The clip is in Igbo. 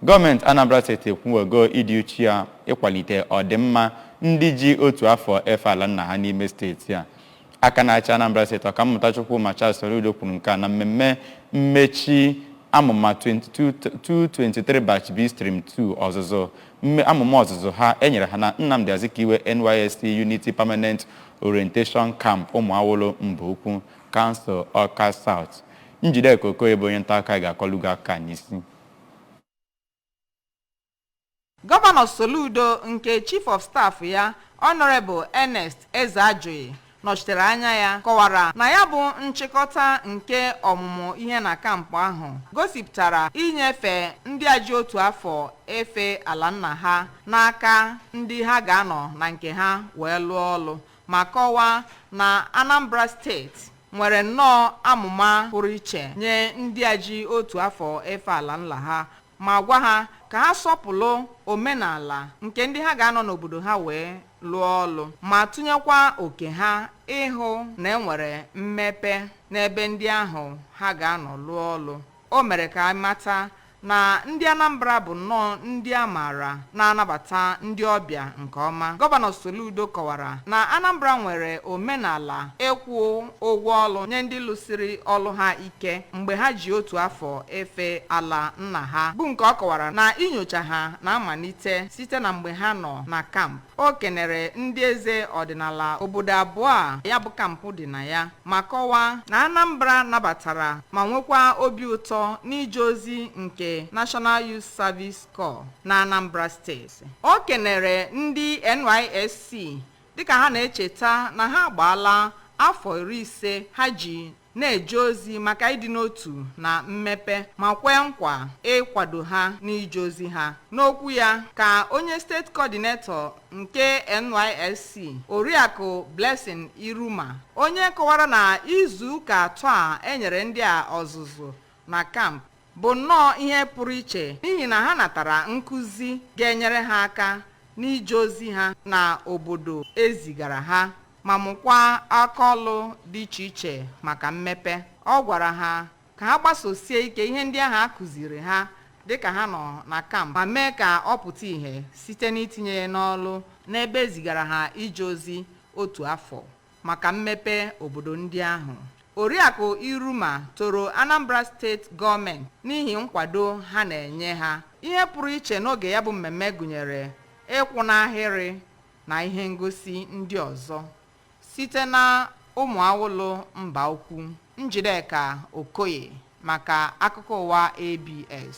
Gọọmenti Anambra steeti ekwuwego ịdị uchu ya ịkwalite ọdịmma ndị ji otu afọ efe ala nna ha n'ime steeti a. Aka na-achị Anambra steeti Ọkammụta Chukwuma Charles Soludo kwuru nke a na mmemme mmechi amụma 2023 Batch B Stream 2 ọzụzụ amụma ọzụzụ ha e nyere ha na Nnamdi Azikiwe NYSC Unity Permanent Orientation Camp Ụmụawụlụ Mbaukwu, Council Awka South. Njideka Okoye bụ onye ntaakụkọ anyị ga-akọlụ gị akụkọ a n'isi. Gọvanọ Soludo nke Chief of Staff ya Honourable Ernest Ezeajughi nọchitere anya ya kọwara na ya bụ nchịkọta nke ọmụmụ ihe na kampụ ahụ gosipụtara inyefe ndị a ji otu afọ efe ala nna ha n'aka ndị ha ga-anọ na nke ha wee lụọ ọlụ ma kọwaa na Anambra steeti nwere nnọọ amụma pụrụ iche nye ndị a ji otu afọ efe ala nna ha ma gwa ha ka ha sọpụlụ omenala nke ndị ha ga-anọ n'obodo ha wee lụọ ọlụ ma tụnyekwa oke ha ịhụ na e nwere mmepe n'ebe ndị ahụ ha ga-anọ lụọ ọlụ. O mere ka a mata na ndị Anambra bụ nnọọ ndị a maara na-anabata ndị ọbịa nke ọma. Gọvanọ Soludo kọwara na Anambra nwere omenala ịkwụ ụgwọ ọlụ nye ndị lụsiri ọlụ ha ike mgbe ha ji otu afọ efe ala nna ha, bụ nke ọ kọwara na inyocha ha na-amalite site na mgbe ha nọ na kampụ. o kenere ndị eze ọdịnala obodo abụọ a ya bụ kampụ dị na ya ma kọwaa na Anambra nabatara ma nwekwa obi ụtọ n'ije ozi nke National Youth Service Corps na Anambra steeti o kenere ndị NYSC dịka ha na-echeta na ha agbaala afọ iri ise ha ji na-eje ozi maka ịdị n'otu na mmepe ma kwee nkwa ịkwado ha n'ije ozi ha. N'okwu ya ka onye steeti kọdinetọ nke NYSC, Oriakụ Blessing Iruma, onye kọwara na izu ụka atọ a e nyere ndị a ọzụzụ na kampụ bụ nnọọ ihe pụrụ iche n'ihi na ha natara nkụzi ga-enyere ha aka n'ije ozi ha na obodo e zigara ha. ma mụkwaa akaọlụ dị iche iche maka mmepe. Ọ gwara ha ka ha gbasosie ike ihe ndị ahụ a kụziiri ha dịka ha nọ na kamp ma mee ka ọ pụta ihe site n'itinye ya n'ọlụ n'ebe e zigara ha ije ozi otu afọ maka mmepe obodo ndị ahụ. Oriakụ Iruma toro Anambra steeti gọọmenti n'ihi nkwado ha na-enye ha. Ihe pụrụ iche n'oge ya bụ mmemme gụnyere ịkwụ n'ahịrị na ihe ngosi ndị ọzọ site na Ụmụawụlụ Mbaukwu. Njideka Okoye maka akụkọ ụwa ABS.